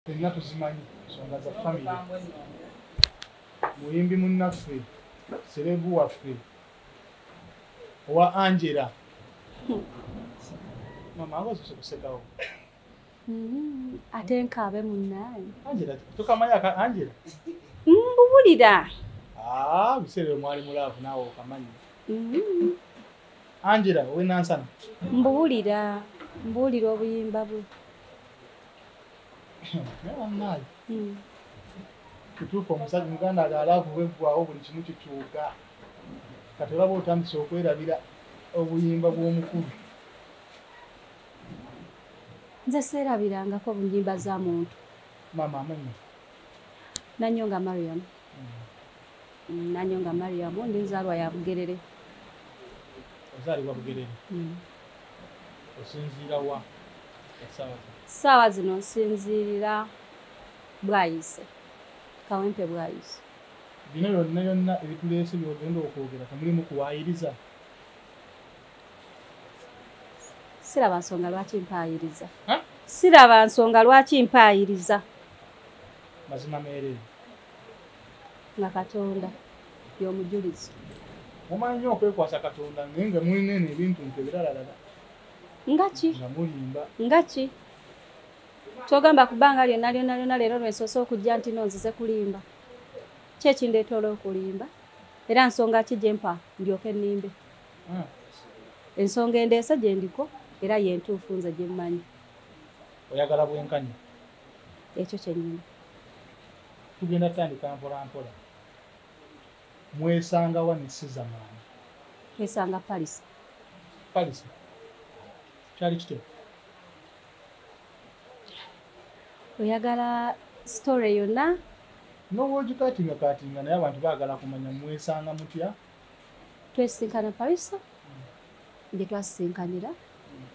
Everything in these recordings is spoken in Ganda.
fenna tuzimanyi nsonga za famire muyimbi munnaffe serebu waffe owa angela mama awazuse kusekawo mm-hmm. ate nkaabe munnaani angela tukamanyi aka angela mbuwulira mm, ah, biseera omwali mulaavu naawe okamanyi mm-hmm. Angela we Nansana. Mbubulira, mbulira obuyimba bwe. Nawa mali. Mm. Kutuufu omusajja muganda ali alavu bweggwawo buli kimu kikyuka. Kati olaba otandise okwerabira obuyimba bw'omukulu. Nze seerabirangako bunyimba za muntu. Mama amanyi. Nanyonga Mariam. Mm. nanyo nga mariamu ndi nzaalwa ya bugerere ozaalibwa bugerere mm. osinziira wa saawa zino nsinziirira bwayise kawempe bwayise bino byonna byonna ebituleese byogenda okwogera temulimu kuwayiriza siraba nsonga lwaki mpaayiriza siraba nsonga lwaki mpaayiriza mazima meerere nga katonda yomujulizi mumanyi nyo okwekwasa katonda naye nga mulina eno ebintu nti ebiralalaga ngaki nga mulimba ngaki kyogamba ku bbanga lyonna lyonna lyonna leero lwensoose okujja nti no nzize kulimba kyekindeetoola okulimba era nsonga ki gyempa ndyoke nnimbe ah. ensonga endeese gye ndiko era yentuufu nze gyemmanyi oyagala bwenkanya ekyo kyenyini tugenda tutandika mpolampola mwesanga wa nesiza maani twesanga palisa palisa kyali kityo oyagala sitore yonna nowogikatinga katinga naye abantu baagala kumanya mwesanga mutya twesisinkana palisa gye twasisinkanira hmm.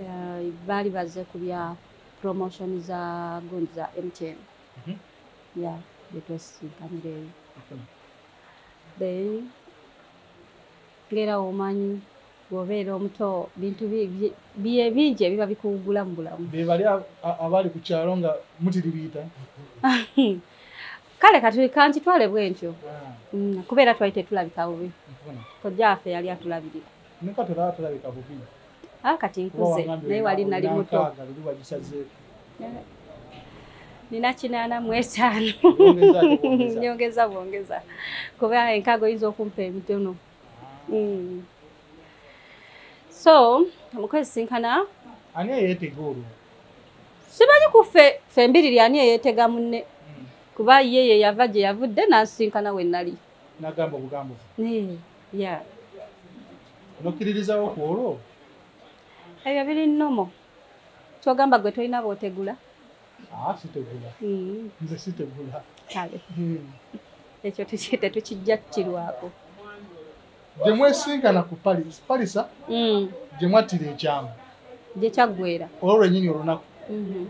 eh, baali baze ku byabo promotion za gundi za mtn mhm. ya byetwesisinkanira eyo mhm. then ngera omanyi bwobeera omuto bintu biye bingi ebiba bikuwugula mu bulamu bebali abali ku kyalo nga mutiribiita kale kati kankitwale bwentyo ah. mm, kubeera twali tetulabika bubi kojjaafe yali atulabirira Neka tera atalabika bubi. Ah kati nkuze naye wali nali muto. Nali wajisaze. Nina kinana mwetano. Nyongeza bwongeza. Kuba enkago inzo kumpa emitono. Ah. Mm. So, mukwezi sinkana. Ani yete goro. Sibanyi kufe fembiri lya ani yete gamunne. Mm. Kuba yeye yavaje yavude na sinkana wenali. Nagamba bugambo. Nee. ya mukkiririzawo ku olwo ebyo biri nomo kyogamba gwe tolina bootegula ah, sitegula mm. nze sitegula kale hmm. ekyo tetukijja kirwako gye mwesinkana ku palisa mm. gye mwattira ekyama gye kyaggwera olwo lwenyini olunaku mm-hmm.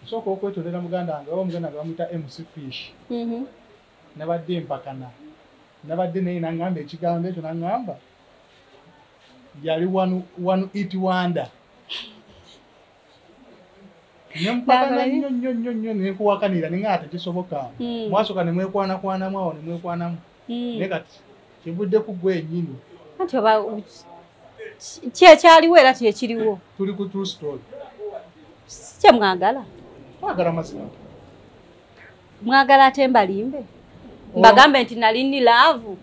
osooka okwetondera muganda wange oba muganda wange bamuyita mc fish mm-hmm. nabadde mpakana nabadde naye nangamba ekigambo ekyo nangamba yali one it wonder nempakana nnyo nnyo nnyo nnyo nenkuwakanira ninga nga tekisoboka hmm. mwasoka nemwekwanakwanamu awo nemwekwanamu hmm. naye kati kivudde ku gwe enyini anti oba kyekyaliwo era kyekiriwo tuli ku true story sikyemwagala twagala mazima mwagala ate mbalimbe oh. mbagambe nti nali ni laavu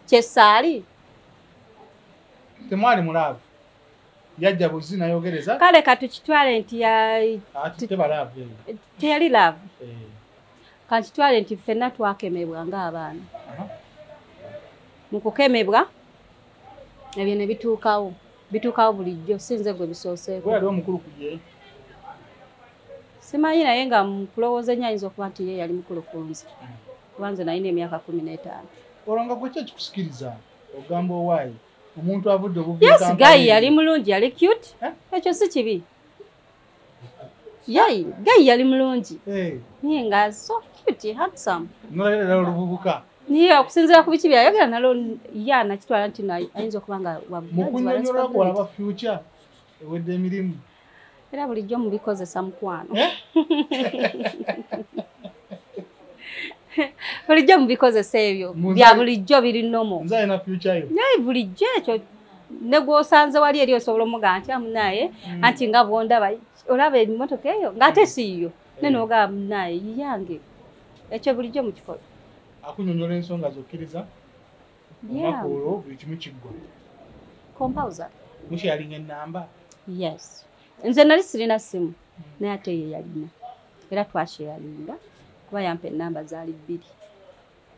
kyesaali temwali mulaavu yajja buzi nayogereza kale katukitwale nti teyali laavu eh. kakitwale nti ffenna twakemebwa ngaabaana mu kukemebwa ebyo ne bituukawo bituukawo bulijjo sinze gwe bisooseeko simanyi naye nga mukulowooza enyo ayinza okuba nti ye yali mukulu kunze kuba nze nalina emyaka kumi n'etaano olwo nga gwekyo ekikusikiriza ogamba owaayi omuntu avudde obuvi yes gayi yali mulungi yali cute eh? ekyo si kibi yayi gayi yali mulungi eh. naye nga so cute handsome nolerera oluvubuka naye okusinzira ku biki byayogera nalo ya nakitwala nti ayinza okuba nga wamukunyonyola kwalaba future ewedde emirimu era bulijjo mubikozesa mukwano eh? bulijjo mubikozesa ebyo bya bulijjo biri nomo naye bulijjo ekyo ne gwosanze wali eri osobola omugaa nti amunaye hmm. anti nga bwondaba olaba emotoka eyo ngaate siiyo ne eh. nogaa munaye yiyange ekyo bulijjo mukikola akunyonyola ensonga zokkiriza olunaku olwo buli kimu kiggwa compouser mukyalinga enamba yes nze nali sirina simu hmm. naye ate ye yalina era twakyeyalinga kuba yampa enamba zaali bbiri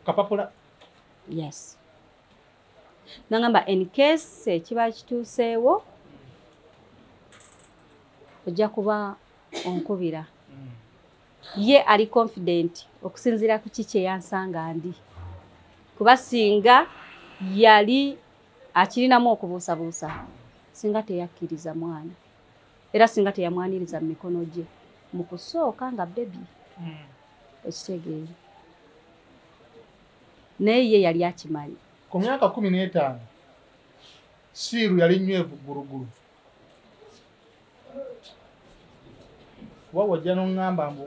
kapapula yes nangamba encase ekiba kituuseewo ojja kuba onkubira hmm. ye ali confident okusinziira ku ki kye yansanga ndi kuba singa yali akirinamu okubuusabuusa singa teyakkiriza mwana era singa teyamwaniriza mu mikono gye mu kusooka nga bebi hmm. ekitegeere naye ye yali akimanyi ku myaka kumi n'etaano siiru yali nywevu ggulugulu kuba wajja noŋŋamba mbu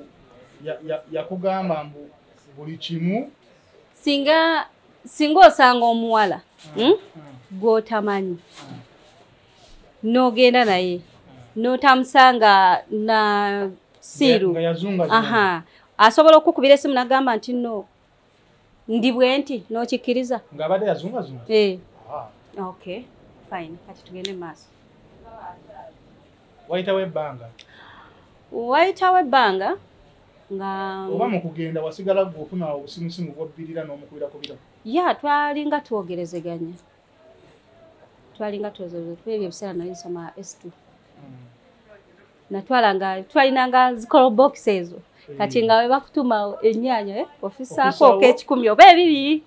yakugamba mbu buli kimu singa singa osanga omuwala ah, hmm, ah. gw'otamanyi ah. n'ogenda naye n'otamusanga na siiru asobola okukubira esimu nagamba nti no ndi bwenti n'okikkiriza ng'abadde yazungazunga eh. ah. ok fine kati tugende mu maaso wayitawo ebbanga wayitawo ebbanga nga oba mu kugenda wasigala gwe ofuna obusimusimu bwobbirira n'omukubira kubira ya twalinga twogerezeganya twalinga twogerezeganya ebyo ebiseera nali nsoma s2 mm. natwala nga twalina nga zikolo box ezo hmm. kati nga webakutuma ennyanya eh, ofisaako oka ekikumi oba ebibiri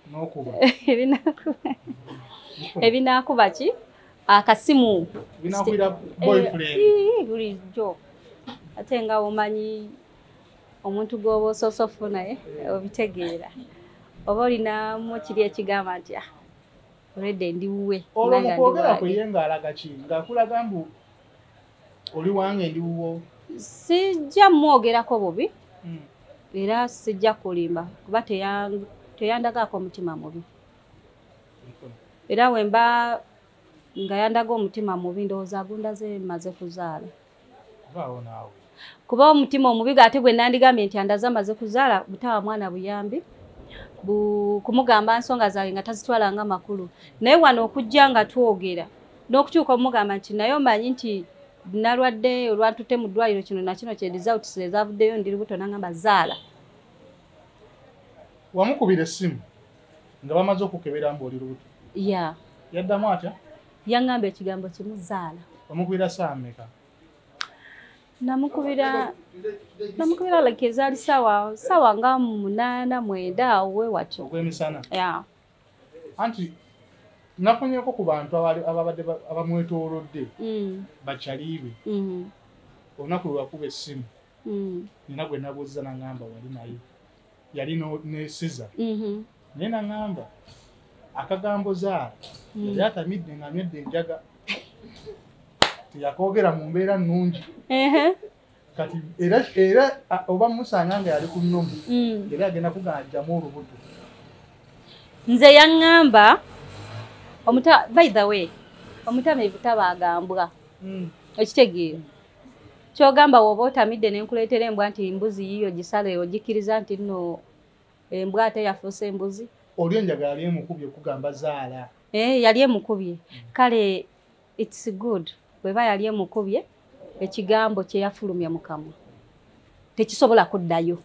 ebinaakuba ki akasimu eh, bulijjo ate nga omanyi omuntu gwoba osoosa ofu naye eh, obitegeera oba olinamu kiri ekigamba nti ah, olwedde ndiwuwe olwo mukwogera kuye ngaalaga ki ngaakulaga mbu oli wange ndi wuwo sijja mwogerako bubi hmm. era sijja kulimba kuba teyandagaako omutima mubi era wemba nga yandaga omutima mubi ndowooza agundaze maze kuzaala kuba omutima omubi gaate gwe nandigambye nti andaze amaze kuzaala butawa mwana buyambi kumugamba nsonga zange nga tazitwala nga makulu naye wano okujja nga twogera n'okukyuka omugamba nti naye omanyi nti nalwadde olwantute mu ddwaliro kino nakino kye results ezavuddeyo ndi lubuto nangamba zaala wamukubira essimu nga bamaze okukebera mbu oli lubuto ya yaddamu atya yangamba ekigambo kimu zaala wamukubira saameka namukubira namukubira like ezaali sawa sawa nga munaana mwenda awo wewatyo ogwemisana ya yeah. anti nafunyeko ku bantu ababadde abamwetoolodde mm. bakyaliibe mm-hmm. olunaku lwewakuba essimu mm. nina gwe nabuuza nangamba wali naye yali nesiza mm-hmm. naye nangamba akagambo zaala mm. yali atamidde nga nywedde enjaga teyakoogera mu mbeera nnungi kati era era oba musanga nga yali ku nnomu mm. era agenda kuganjamu olubuto nze yaŋŋamba omuta by the way omutamivu tabaagambwa mm. ekitegeero kyogamba woba otamidde nenkuleetera embwa nti mbuzi yiyo gisale ogikkiriza nti nno embwa ate yafuuse embuzi oli enjagala yali emukubye okugamba zaala eh, yali emukubye mm. kale It's good bweba yali emukubye ekigambo kyeyafulumya mukamwa tekisobola kuddayo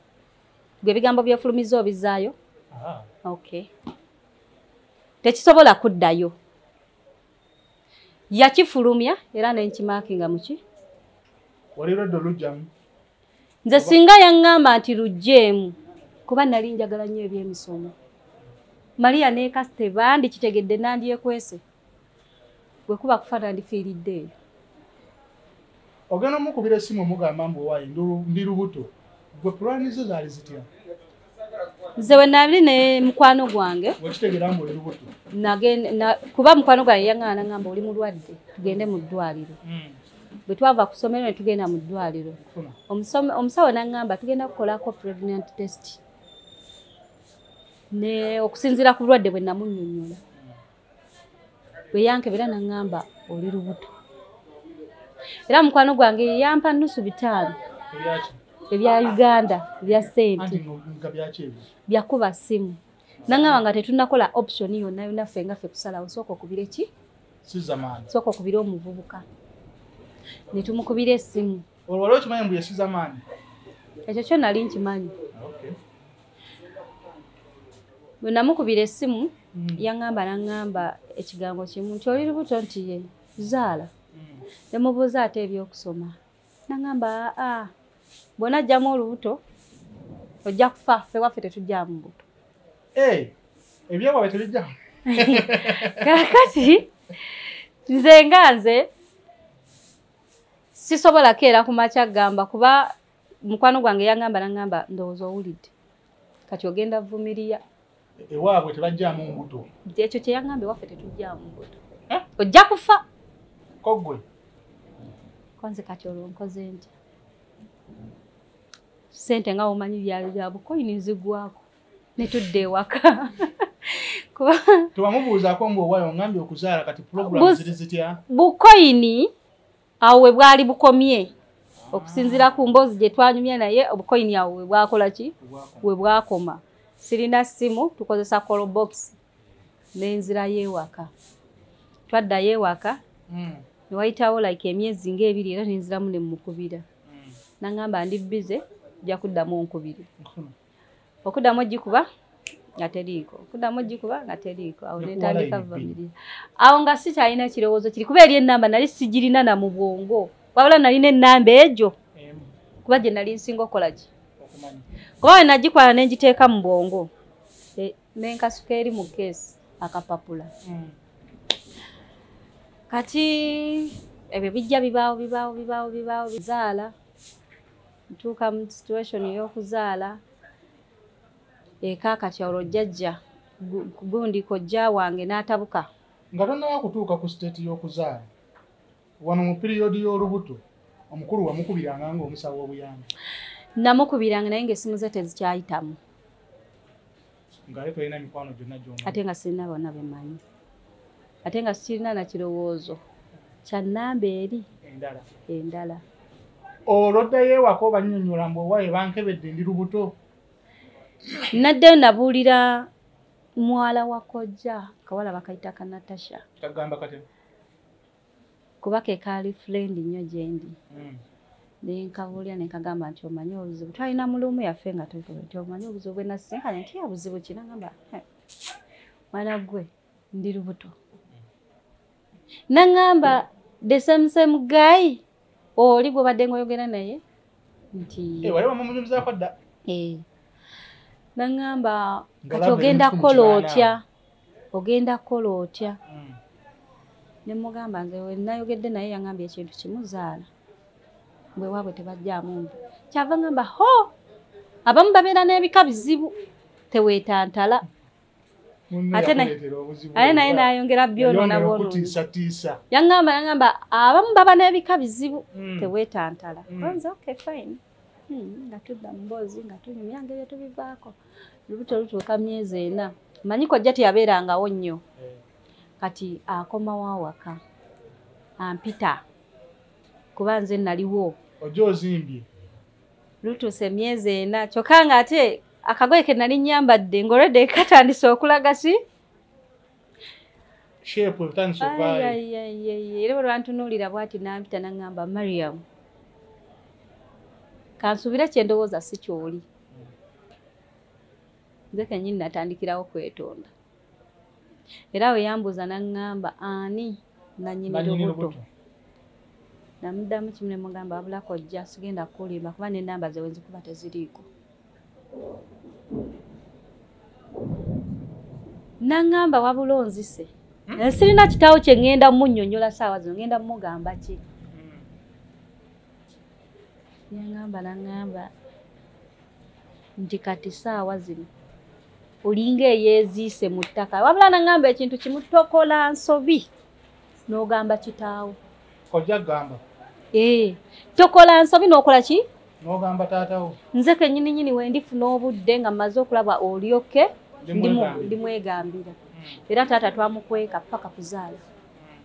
gwe ebigambo byefulumiza obizaayo ah. okay tekisobola kuddayo yakifulumya era nenkimaakinga muki nze singa yaŋŋamba nti lujjeemu kuba nali njagala nnyo ebyemisomo maria nekasite bandi kitegedde nandyekwese bwe kuba kufa nandifiiridde eyo ogenda omukubira esimu omugamba mbu owaye ndi lubuto gwe pulani zo zaali zitya nze wenali ne mukwano gwange kuba mukwano gwange yaŋana naŋamba oli mulwadde tugende mu ddwaliro hmm. bwe twava ku ssomero ne tugenda mu ddwaliro omusawo naŋamba tugenda kukolako pregnant test ne okusinziira ku bulwadde bwe namunyonyola bwe yankebera naŋŋamba oli lubuto era mukwano gwange yeyampa nusu bitaano ebya uganda ebya sente byakuba simu naŋŋamba nga tetunakola option yonna yonna ffe nga ffe kusalawo sooka okubire ki sooka okubire omuvubuka ne tumukubira esimu olwo wali okimanyi mbu yesuza maanyi ekyo kyo nali nkimanyi bwe namukubira essimu hmm. yaŋŋamba naŋŋamba ekigambo kimu nti oli lubuto nti ye zaala hmm. ne mubuuza ate ebyokusoma naŋŋamba aa bwona ajjamu olubuto ojja kufa ffe waffe tetujjamu mbuto eh, ebyewawe tebijjamu kakati nze nga nze sisobola keera ku makya gamba kuba mukwano gwange yangamba nangamba ndowooza owulidde kati ogenda vumiriya ewaabwe tebajjamu mbuto ekyo kyeyangamba ewaffe tetujjamu mbuto eh? ojja kufa kogwe konze kati olwo nkoze ntya sente nga womanyi byabukoyini nzigwako netudda ewaka tewamubuuzaako mbu owayo ongambye okuzaala kati pulogulamu ziri zitya bukoyini awo we bwali bukomye okusinziira ku mboozi gye twanyumya naye obukoyini awo we bwakola ki we bwakoma sirina ssimu tukozesa colobox nenzirayo ewaka twaddayo ewaka hmm. newayitawo like emyezi ngaebiri era nenziramu nemukubira hmm. nangamba ndi bize ja kuddamu onkubiri okuddamu ogikuba nga teriiko okuddamu ogikuba nga teriiko awo netandika vamiri awo nga sikyalina kirowoozo kiri kuba eri enamba nali sigirina na mu bwongo wabula nalina enamba egyo kuba gye nali nsinga okukolaki kuba we nagikwala ne ngiteeka mu bwongo e, nenkasuka eri mu keesi akapapula mm. kati ebyo bijja bibaawo bibaawo bibaawo bibaawo bizaala ntuuka mu situation y'okuzaala eka kati olwo jjajja gundi kojja wange n'atabuka nga tonnaba kutuuka ku siteeti y'okuzaala wano mu piriyodi y'olubuto omukulu wamukubiranga nga omusawo obuyambi namukubiranga naye nga esimu ze tezikyayitamu ate nga sirina bona bemanyi ate nga sirina nakirowoozo kyanamba eri endala olwoddayo ewaka obanyonyola mbu owaye bankebedde ndi lubuto naddeyo nabuulira mwala wa kojja kawala bakayita ka natasha kuba ke kaali friend nnyo gyendi hmm. nenkabuulira nenkagamba nti omanyi obuzibu twalina mulumu yaffe nga tuvuga nti omanyi obuzibu bwenasisinkanye nti yabuzibu kinagamba mwana gwe ndi lubuto nangamba the same same guy oli gwobadde ngaoyogera naye nti eh, wali wamumunyumizako dda eh. naŋŋamba kati ogenda kukola otya ogenda kukola otya hmm. ne mugamba nze wenayogedde naye yaŋambye ekintu kimu zaala bwe waabwe tebajjaamu mbu kyava ŋamba ho abamu babeera n'ebika bizibu teweetantala ate naye nayongera byonona bwonotiisatiisa yaŋamba naŋamba abamu baba n'ebika bizibu hmm. tewetantala hmm. nze okay fine hmm, nga tudda mu mboozi nga tunyumya ngeri tubivaako lubuto lutuuka myezi ena manyi kojja teyabeerangawo nnyo eh. kati akomawo awaka ampita kuba nze naliwo oja ozimbye lutuuse emyezi ena kyokka nga ate akagoye ke nali nyambadde ng'olwedde katandise okulaga ki shepu ebitandise okuvaayo era olwantunuulira bwati nampita naŋŋamba mariam kansuubire kye ndowooza si kyoli nze kennyini natandikirawo kwetonda era we yambuuza naŋŋamba ani nanyini lubuto namuddamu kimu ne mugamba wabulako ojja sigenda kukulimba kuba n'ennamba ze wenzikuba teziriiko naŋŋamba wabula onzise hmm? eh, sirina kitaawo kye ŋŋenda munnyonnyola saawa zino ŋŋenda mugamba ki hmm. yaŋŋamba naŋŋamba nti kati saawa zino olinga eyeeziise mu ttaka wabula naŋŋamba ekintu kimu tokola nsobi n'ogamba kitaawo kojja gamba ee eh, tokola nsobi n'okola ki n'ogamba taatawo nze kennyini nyini we ndifuna obudde nga mmaze okulaba olyoke ndimwegambira hmm. era taata twamukweka paka kuzaala hmm.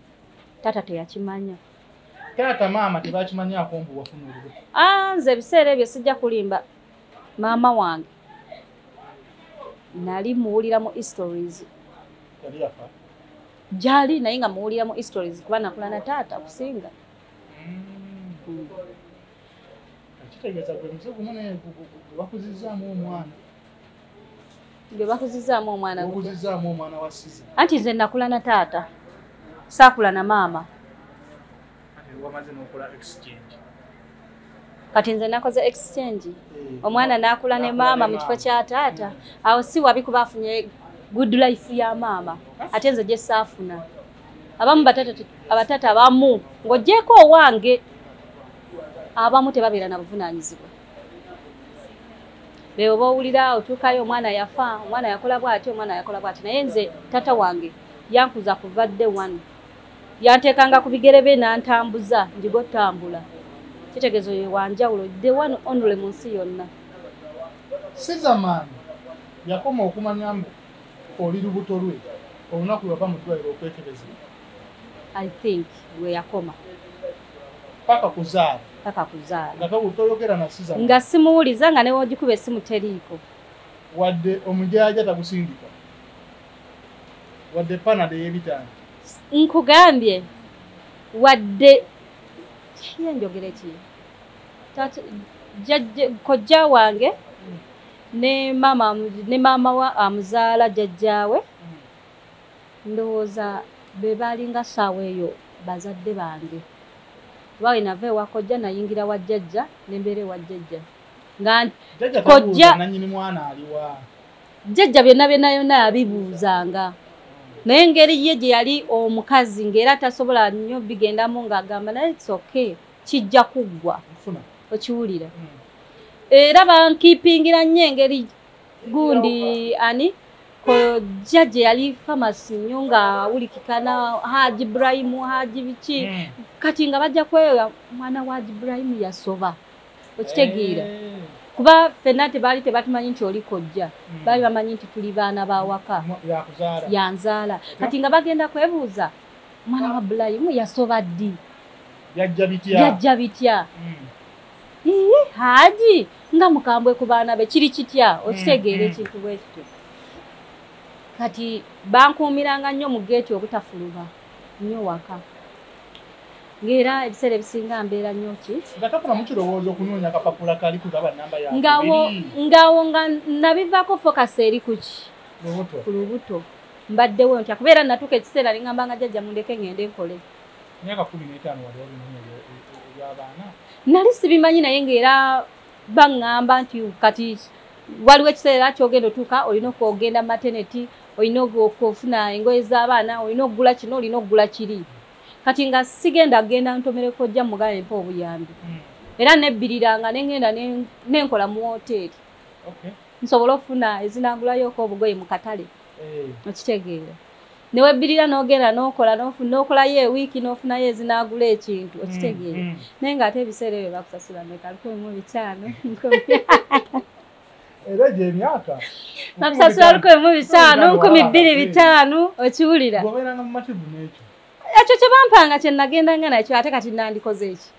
taata teyakimanya taata maama tebakimanyako mbu wafuna olube ah, nze ebiseera ebyo sijja kulimba maama wange nali muwulira mu histories jali naye nga muwulira mu histories kuba nakula na taata kusinga mm. kitegeeza gwe muze gumu naye gwebakuzizaamu omwana gwe bakuzizaamu omwana okuzizaamu omwana wa siza anti nze nakula na taata saakula na maama kati nze nakoze exchange eh. omwana nakula ne maama mu kifo kya taata awo si wabi kuba afunye good life ya maama ate nze gyesaafuna abamu abatata abamu ng'ogyeko owange abamu tebabeera na buvunaanyizibwa beebo bowulira otuukayo omwana yafa omwana yakola bwati omwana yakola bwati naye nze tata wange yankuza kuvadde wanu yanteekanga ku bigere be n'antambuza njiga otambula kitegeezo ye wanjawulo the one only mu nsi yonna sizamaani yakoma okumanya mbu oli lubuto lwe olunaku lwava mu ddwaliro okwekebeza i think lwe yakoma paka kuzaala paka kuzaala toyogera na sizamaani nga simuwuliza nga newogikuba esimu teriiko wadde omujaja tagusindika wadde panado eyebitaano nkugambye wadde kiyenjogere ki kojja wange ne maama ne maama wa amuzaala jajjaawe ndowooza be baalinga saawa eyo bazadde bange kuba we nava ewa kojja nayingira wa jajja nembeera ewa jajja nga kojja nanyini mwana aliwa jjajja byonna byonna yonna yabibuuzanga naye engeri ye gye yali omukazi ng'era tasobola nnyo bigendamu ng'agamba naye its okay kijja kuggwa okiwulira hmm. era bankiipingira nnyo engeri gundi ani kojja gye yali famasi nnyo nga wulikikana haji ibrahimu haji biki hmm. kati nga bajja kweyoya mwana wa haji ibrahimu yasoba okitegeera eh. kuba fenna tebaali tebatumanyi nti oli kojja hmm. baali bamanyi nti tuli baana bawaka yanzaala kati nga bagenda kwebuuza mwana wa bulayimu yasoba ddi yajja bitya hmm. iye haji nga mukambwe ku baana be kiri kitya hmm, okitegeera ekintu bwekityo kati bankuumiranga nnyo mu geeti obutafuluba nnyo waka ng'era ebiseera ebisinga mbeera nnyo ki ngaawo nga nabivaako focus eri kuki ku lubuto mbaddewo ntya kubeera natuuka ekiseera nengamba nga jajja mundeke ngende nkole nali sibimanyi naye ng'era baŋŋamba nti kati waliwo ekiseera kyogenda otuuka olina okugenda mateneti olina okufuna engoye z'abaana olina okugula kino olina okugula kiri kati nga sigenda kugenda ntomere kojja mugala empa obuyambi hmm. era nebbiriranga nengenda nenkola mu woteeri nsobola okufuna ezinagulayooko obugoye mu katale eh. okitegeera newebbirira nogenda nokola nokolayo ewiiki nofunayo ezinagula ekintu okitegeera hmm, hmm. naye nga ate ebiseera ebyo bakusasula mekalukumu bitano era egyo emyaka nakusasula luko emu bitaano nkumi bbiri bitaano okiwulira obeeranga mu mativu n'ekyo ekyo kye bampanga kye nagendanga nakyo ate kati nandikoze eki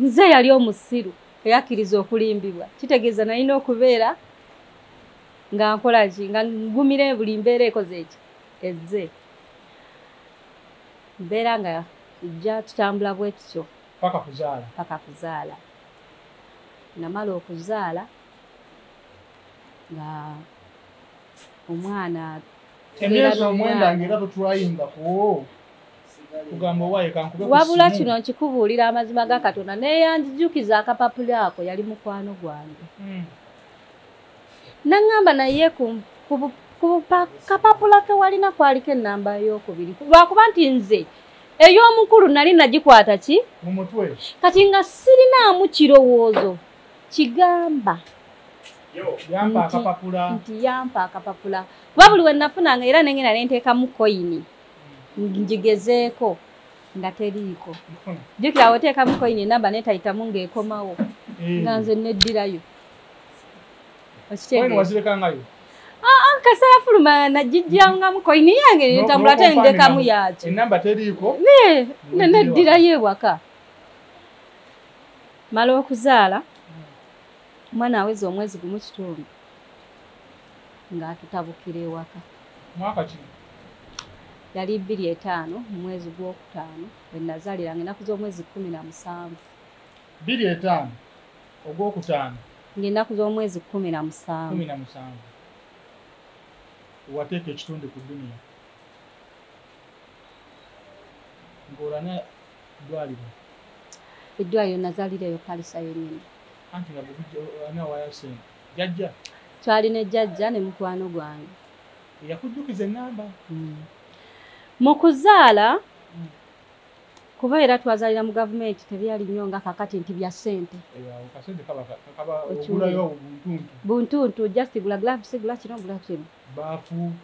nze yali omusiru eyakkiriza okulimbibwa kitegeeza nalina okubeera nga nkola ki nga ngumire buli mbeera ekoze eki ezze mbeera nga ejja tutambula bwe tutyo paka kuzaala paka kuzaala namala okuzaala nga omwana emyezi omwenda ngaera totwayingako kugamba owaye kankube wabula kino nkikubuulira amazima ga katonda neyanjijukiza akapapula ako yali mukwano gwange hmm. naŋŋamba naye ku kapapula kewalina kwaliko enamba yokubiri lwakuba nti nze ey'omukulu nali nagikwata ki mumutwe kati nga sirinaamu kirowoozo kigamba nti yampa akapapula kuba buli we nafunanga era nengenda nenteekamu koyini ngigezeeko nga teriiko jukira woteekamu koyini enamba netayitamu ng'ekomawo eh. nga nze neddirayo okitegeera wazirekangayo ah, ah, kasala fuluma najijjangamu koini yange netambula ate ndekamu yaki enamba teriiko neddirayo ewaka mala okuzaala omwana aweza omwezi gumu kitundu ng'atutabukira ewaka mwaka ki yali bbiri etaano mu mwezi gw'okutaano bwe nazaaliranga enaku z'omwezi kkumi na musanvu bbiri etaano ogwokutaano ng'ennaku z'omwezi kkumi na musanvu kumi na musanvu wateeka ekitundu ku duniya ng'olana eddwaliro eddwaliro nazaalira eyo palisa yennyini anti nga bwanawayo sente jajja twali ne jajja ne mukwano gwange eyakujjukiza ennamba hmm. mu kuzaala hmm. kuba era twazalira mu gavumenti tebyali nnyo nga kakati nti bya ssente buntuntu just gula gloves gula kino gula kino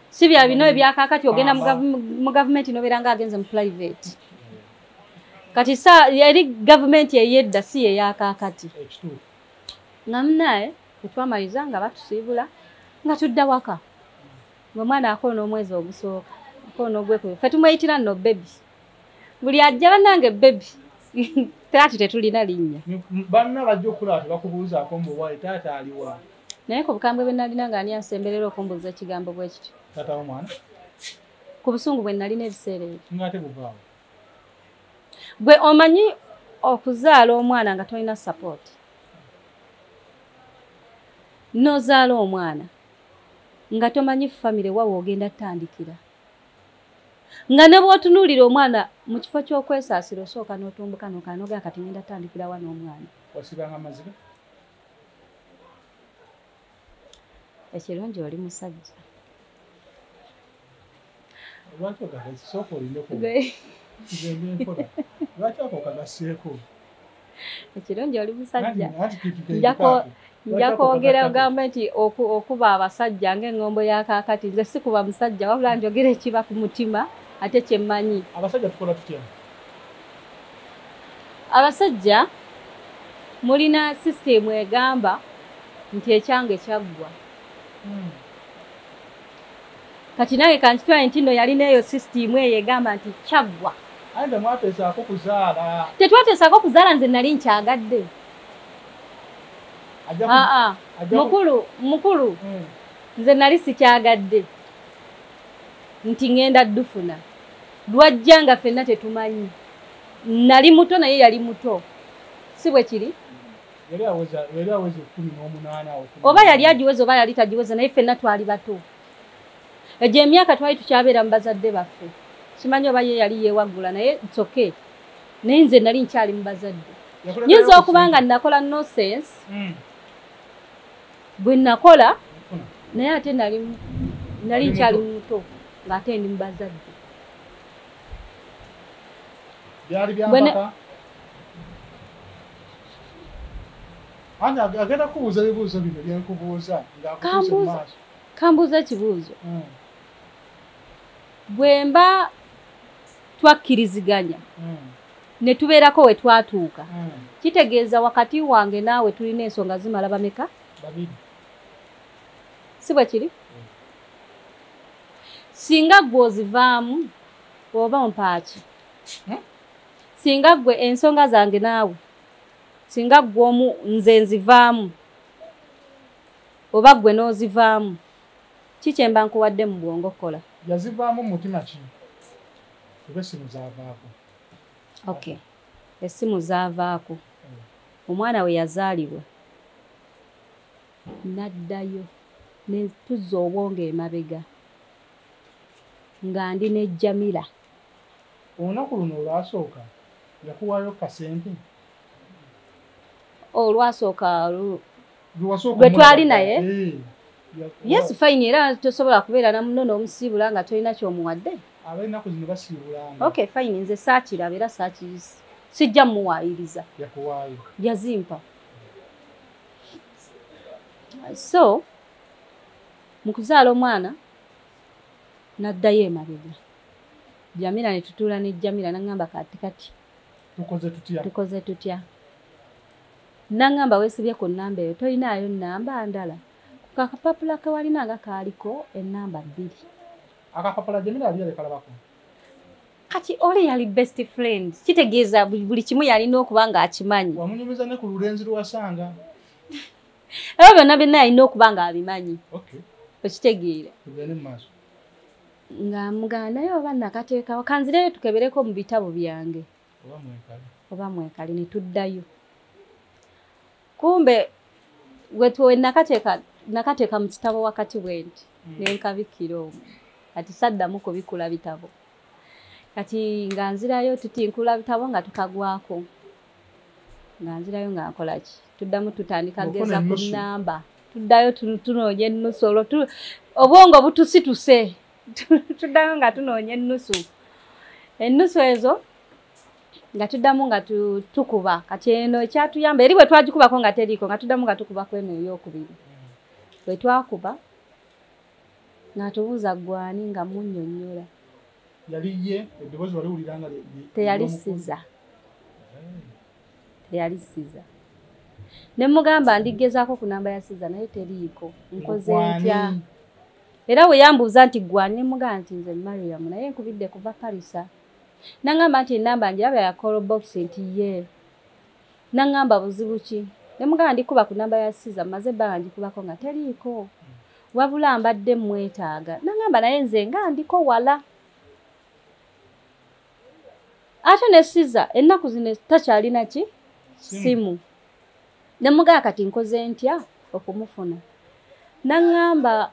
si bya bino ebyakakati ogenda mu gavumenti nobeera nga agenze mu private kati sa yali gavumenti eyedda si yeyakakati nga munaye etwamaliza nga batusiibula nga tudda waka ng'omwana akoona omwezi ogusooka akoona ogwekubiri fe tumweyitira nno bebi buli ajja bannange bebi taati tetulina linnya banna bajja okulaba tebakubuuzaako muwale taata aliwa naye ku bukambwe bwe nalina nga ani ansemberera okumbuuza ekigambo bwe kityo taata womwana ku busungu bwe nalina ebiseera ebyo ngate buvaawo gwe omanyi okuzaala omwana nga tolina sapooti nozaala omwana nga tomanyi famire wa woogenda tandikira nga ne bwotunuulira omwana mu kifo ky'okwesaasira osooka n'otumbuka nokanoga kati ngenda tandikirawa n'omwana osibanga mazima ekirungi oli musajja ekirungi oli musajja nja kwogera ogamba nti okuba abasajja ngaeŋŋombo ya kaakati nze sikuba musajja wabula njogera ekiba ku mutima ate kyemmanyi abasajja mulina sisitemu egamba nti ekyange kyaggwa hmm. kati nange kankitwale nti no yalina eyo sisitiimu eyo egamba nti kyaggwa tetwateesaako kuzaala nze nali nkyagadde aa mukulu mukulu hmm. nze nali sikyagadde nti ŋenda dufuna lwajja nga fenna tetumanyi nali muto naye yali muto si bwe kiri oba yali agiweza oba yali tagiweza naye ffenna twali bato egyo emyaka twali tukyabeera mu bazadde baffe kimanyi oba ye yali yewaggula naye itsoke naye nze nali nkyali mu bazadde nyinza okuba nga nakola nosense hmm. bwe nakola naye ate nali nali nkyali muto ng'ate ndi mu bazadde byali byambaka Ana agenda kubuuza ebibuuzo bino byenkubuuza ng'akubuuza mu maaso. Kambuuza ekibuuzo. Hmm. Bwe mba twakkiriziganya hmm. ne tubeerako we twatuuka hmm. kitegeeza wakati wange naawe tulina ensonga zimala bameka? Babiri. Si bwe kiri? Singa ggwe ozivaamu oba mpaaki? singa gwe ensonga zange naawe singa gwe omu nze nzivaamu oba gwe n'ozivaamu ki kyemba nkuwadde mu bwongo okukola yazivaamu mumutima ki oba essimu zavaako ok essimu zavaako omwana we yazaalibwa naddayo netuzza obwongo emabega nga ndi ne jamila olunaku luno olwasooka yakuwaayo kasente olwasooka lwe twali naye eh, yesu fayini era tosobola kubeera namuno n'omusiibula nga tolina kyomuwadde abenaku zino basiibulanga ok fayini nze saakiraba era saakiyisi sijja muwaayiriza yakuwaayo yazimpa so mu kuzaala omwana naddayo emabega jamira ne tutuula ne jamira naŋŋamba kati kati tukoze tutya tukoze tutya naŋŋamba weesibye ku nnamba eyo tolinaayo nnamba ndala ku kakapapula ke walina nga kaaliko ennamba bbiri akapapula jamira yali yalekalabako kati oli yali best friend kitegeeza buli kimu yalina okuba ng'akimanyi wamunyumiza ne ku lulenzi lwewasanga ebyo byonna byonna yalina okuba nga abimanyi okitegeera nga mugamba naye oba nakateekawo kanzireyo tukebereko mu bitabo byange oba mwekali ne tuddayo kumbe wetwe nakateeka nakateeka mu kitabo wakati bwenti hmm. nenkabikkira omu kati saddamu kubikula bitabo kati nga nzirayo tutinkula bitabo nga tukagwako nga nzirayo nga nkola ki tuddamu tutandika geza ku namba tuddayo tunoonya ennusu olwo obwongo butusituse tuddayo nga tunoonya ennusu ennusu ezo nga tuddamu nga tukuba kati eno ekyatuyamba eri bwe twagikubako nga teriiko nga tuddamu nga tukuba ku eno eyokubiri bwe twakuba ng'atubuuza gwani nga munyonyola yali ye eddoboozi wali wulira nga teyalisiza teyali siza ne mugamba ndigezaako ku namba ya siza naye teriiko nkoze ntya era bwe yambuuza nti gwani ne mugamba nti nze mariam naye nkubidde kuva parisa nangamba nti enamba njiraba ya call box nti ye Nangamba buzibu ki? Ne mugamba ndikuba ku namba ya Siza maze ebbanga ngikubako nga teriiko. Wabula mbadde mmwetaaga. Nangamba naye nze nga ndiko wala. Ate ne Siza ennaku zino takyalina ki? Simu. Ne mugamba kati nkoze ntya okumufuna. Nangamba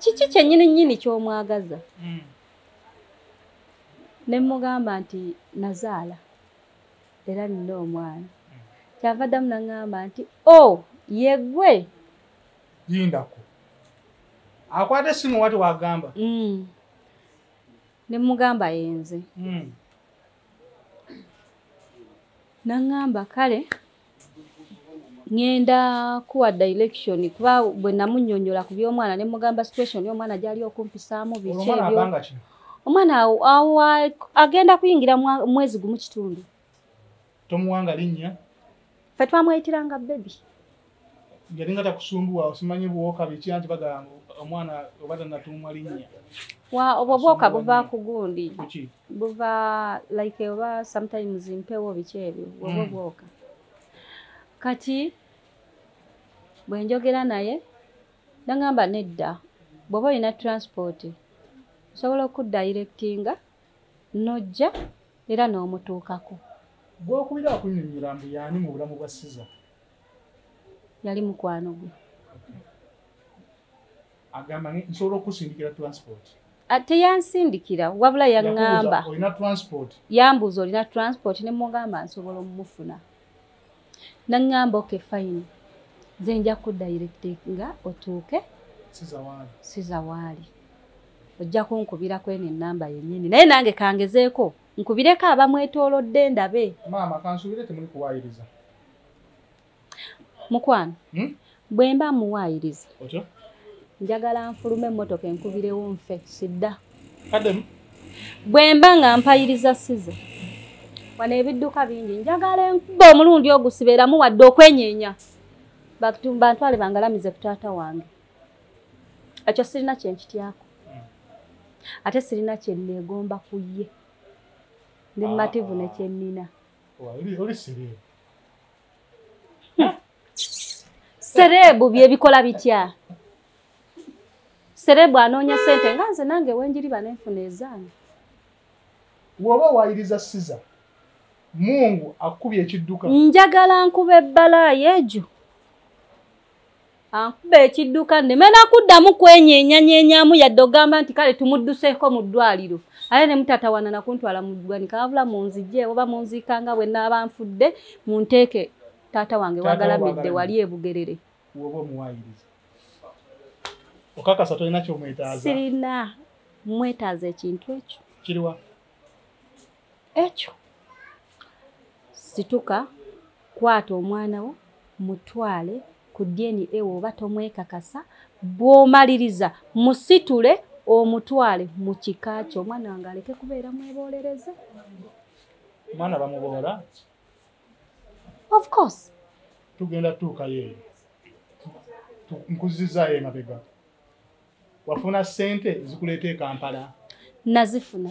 kiki kyennyini nnyini ky'omwagaza? Hmm. Ne mugamba nti nazaala. era nina omwana kyava ddamu naŋŋamba nti o oh, yegwe yindako akwata esimu wati wagamba mm. ne mugamba yenze mm. naŋŋamba kale ngenda kuwa direction kuba bwe namunyonyola ku by'omwana ne mugamba situation y'omwana gyali okumpisaamu biki ebyo omwana agenda kuyingira mwezi gumu kitundu tomuwanga linnya fe twamweyitiranga bebi yalinga takusumbuwa osimanye buwoka biki anti bagamba omwana oba tanatumwa linnya wa obwo bwoka buva ku gundi buva like oba sometimes mpewo biki ebyo obwo hmm. bwoka kati bwe njogera naye nangamba nedda bw'oba olina transport osobola okuddayirekitinga n'ojja era n'omutuukako gwokubira okunyonyola mbu yaani mu bulamu bwa siza yali mukwano gwe agamba nsobola okusindikira transport ah, teyansindikira wabula yaŋŋamba yambuuza olina transport ne mugamba nsobola omumufuna naŋŋamba oke fine nze nja kudayirekti nga otuuke siza waali ojja kunkubira kweno enamba yennyini naye nange kangezeeko nkubireko abamwetoolodde ndabe maama kansubire temuli kuwayiriza mukwano hmm? bwe mba muwaayiriza njagala nfulume emmotoka enkubirewo nfe sidda bwe mba nga mpayiriza size wano ebidduka bingi njagala enkuba omulundi ogusibeeramu wadde okwenyeenya bantwale bangalamize ku taata wange ekyo sirina kyenkityako hmm. ate sirina kyenneegomba ku ye ndi mumativu ah. nekyenina sereebu byebikola bitya sereebu anoonya sente nga nze nange wenjiri banenfuna ezange woba wayiriza siza mungu akubye ekidduka njagala nkuba ebbala yejo ankuba ekidduka nneme nakuddamu kwenyeenyanyenyamu yadde ogamba nti kale tumudduseeko mu ddwaliro aye ne mutatawana nakuntwala mu ddwanika wabula munzije oba munziika nga bwe naaba nfudde mu nteeke taata wange wagalamidde wali ebugerere okakasa tolina kyomwetaaza sirina mwetaaza ekintu ekyo kiriwa ekyo situka kwata omwana wo mutwale ku DNA oba tomwekakasa bw'omaliriza musitule omutwale mu kika kyo omwana wange aleke kubeera mweboolereze omwana bamuboola of course tugenda tuukayo eyo nkuzizaayo emabega wafuna sente ezikuleeta ekampala nazifuna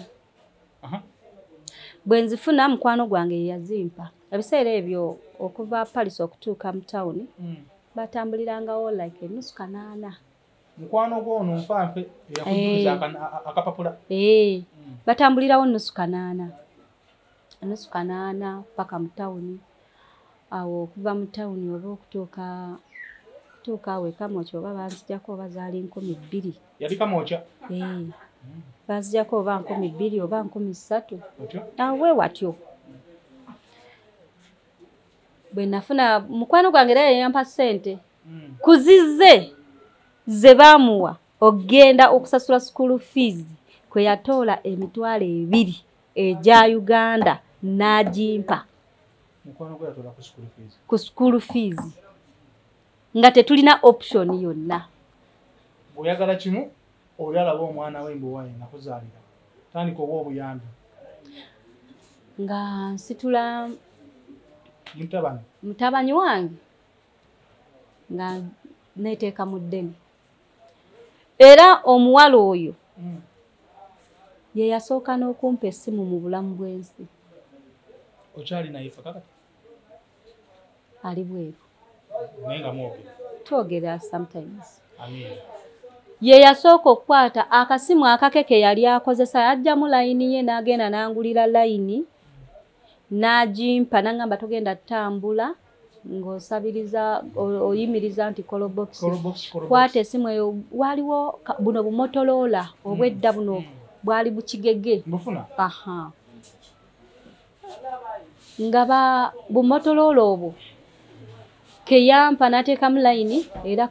bwe nzifuna mukwano gwange yeyazimpa ebiseera ebyo okuva paris okutuuka mu tawuni hmm. batambulirangawo like enusu kanaana mukwano gwono nfanfe eyakujuza eh. akapapula eh. hmm. batambulirawo nusu kanaana nusu kanaana paka mu tawuni awo okuva mu tawuni oba okutuuka tuuka awo ekamokya oba banzijako oba zaali nkumi bbiri yali kamokya eh. banzijako oba nkumi bbiri oba nkumi ssatu awe watyo bwe nafuna mukwano gwange era yeyampa ssente hmm. kuzize ze baamuwa okugenda okusasula sukuulu fiizi kwe yatoola emitwalo ebiri egya uganda n'agimpa ku school fees nga tetulina option yonna oyagala kimu oli alaba omwana we mbuwaye nakuzaalira tandika oba obuyambi nga nsitula mutabani mutabani wange nga neteeka mu ddene era omuwala oyo mm. ye yasooka n'okumpa essimu mu bulamu bw'ensi okyali naye fa kakati ali bweru naye nga mwogera twogera sometimes ye yasooka okukwata akasimu akake ke yali akozesa yajjamu layini ye n'agenda n'angulira layini n'agimpa nangamba togenda tutambula ng'osabiriza oyimiriza nti kolobokisi kwata esimu eyo waliwo buno bumotoloola obwedda hmm. buno bwali bukigege aha nga ba bumotoloola obwo keyampa nateekamu layini era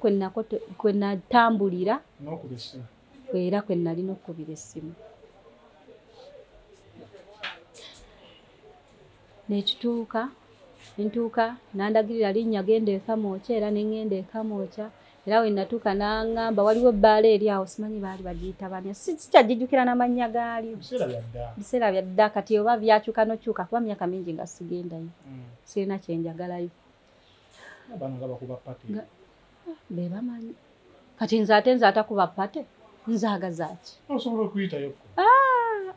kwenatambulira era kwe nalina okukubira essimu nekituuka ntuuka nandagirira linnya genda ekamwokya era nengenda ekamwokya era we natuuka nangamba waliwo ebbaala eri awo simanyi baali bagiyita banya sikyajijukira namannya gaali biseera byadda kati oba byakyuka nokyuka kuba myaka mingi nga sigendayo mm. sirina kyenjagalayo bano nga bakuba pate ah, be bamanyi kati nze ate nze atakuba pate nzagazaki osobola okuyitayo ah!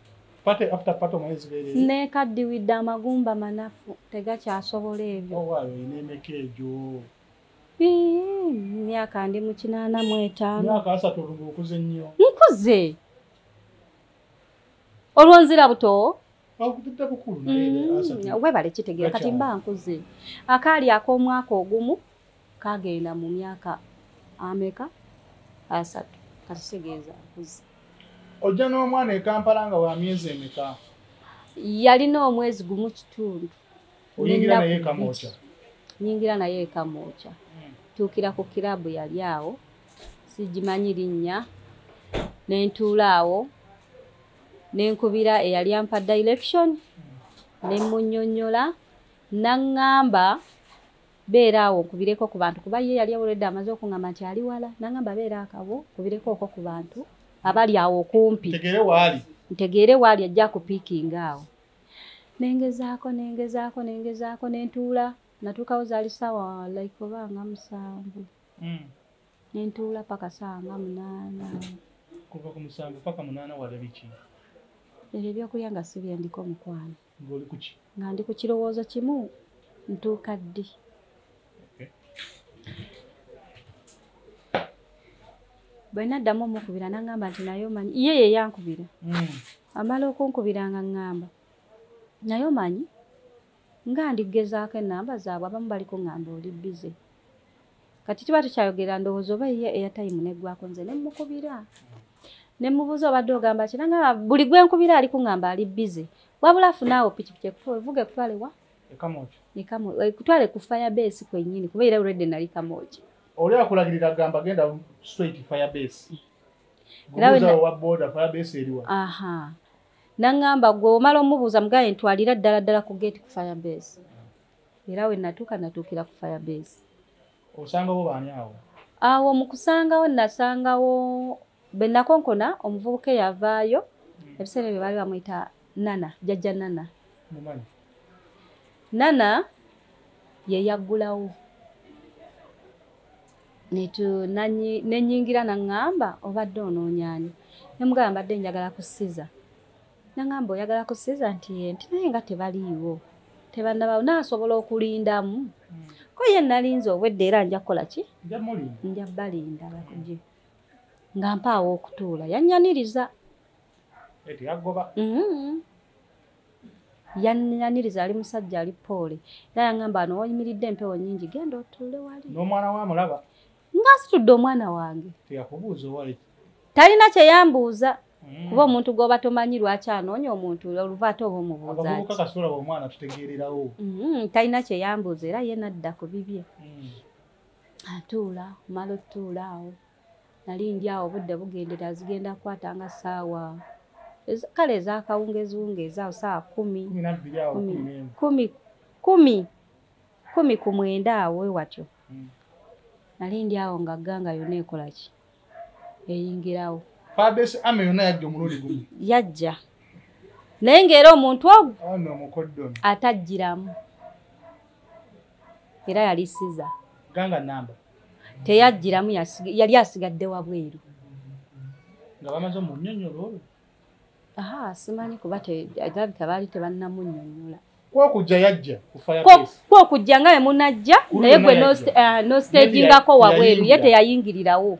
pate after pate omanyi zibeere nekaddiwidde amagumba manafu tegakyasobola ebyo owaayo oh, olina emeka egyo myaka ndi mu kinaana mu etaano myaka asatu olunga okuze nnyo nkuze olwonzira butowo Mm, webale kitegeera kati mba nkuze akaali ak'omwaka ogumu kagenda mu myaka ameka asatu kati kitegeeza nkuze ojja n'omwana ekampala nga wa myezi emeka yalina omwezi gumu kitundu nyingira naye ekamwokya hmm. tuukira ku kirabu yali awo sigimanyi linnya nentuula awo nenkubira eyali ampa direction nemunyonyola nangamba beera awo nkubireko ku bantu kuba ye yali awuledde amaze okungamba nti ali wala nangamba beera akabo kubireko oko ku bantu abali awo okumpi ntegeere waali ajja kupiikinga awo nengezaako nengezaako nengezaako nentuula natuukawo zaali saawa like oba nga musanvu hmm. nentuula paka saa nga munaana kuva ku musanvu paka munaana wala biki ebyo ebyokulya nga si byendiko mukwano ngaoli kuki nga ndi ku kirowoozo kimu ntuuka ddi bwe naddamu omukubira nangamba nti naye omanyi ye ye yankubira hmm. amala okunkubira nga ŋŋamba naye omanyi nga ndi kugezaako enamba zaabwe abamu bali kuŋŋamba oli bize kati tuba tukyayogera ndowooza oba ye eya tayimu neggwako nze ne mmukubira ne mmubuuza obadde ogamba kira nga buli gwe nkubira ali kuŋŋamba ali bize wabula afunaawo pikipiki ekutuwa evuga ekutwale wa ekutwale ku fire base kwennyini kuba era olwedde nali kamooja oli akulagirira agamba genda straight fire base gubuuza owa boda fire base eriwa Nangamba gwe omala omubuuza mugaye ntwalira ddala ddala ku gate ku fire base. Era we natuuka natuukira ku fire base. Osangawo baani awo? Awo mu kusangawo nasangawo bwe nakonkona omuvubuka eyavaayo hmm. ebiseera ebyo baali bamuyita Nana jajja Nana. Mumanyi. Nana ye yaggulawo. nenyingira naŋŋamba obadde onoonyaani nemugala mbadde njagala kusiza naŋŋamba oyagala kusiza nti ye nti naye nga tebaliiwo tebanabawo nasobola okulindamu hmm. ko ye nalinze obwedde era nja kukola ki nja balinda bakuje nga mpaawo okutuula yanyaniriza mm-hmm. yanyaniriza ali musajja ali poole era yangamba ano oyimiridde empewo nyingi genda otuule wali n'omwana wa mulaba nga asitudde omwana wange teyakubuuza owali talina kyeyambuuza Mm. kuba omuntu gwoba tomanyi lwaki anoonya omuntu oluva ate oba omubuuzaomwanategeererawo mm, talina kyeyambuuza era ye nadda ku bibye mm. atuula omala otutuula awo nali ndi awo obudde bugendera zigenda kukwata nga saawa kale ezakawungeziwungeezi awo saawa kumi kumi kumi kumi ku mwenda awo watyo hmm. nali ndi awo nga ganga yona ekolaki eyingirawo yajja naye ngaera omuntu ogwo atajjiramu era yali siza ganga namba teyajjiramu yali asigadde wabweru nga bamaze omunyonyola olwo aha simanyi kuba alabika baali tebannamunyonyola kwokujja yajja kwokujja nga wemunajja naye gwe nostagingako eh, wabweru ye teyayingirirawo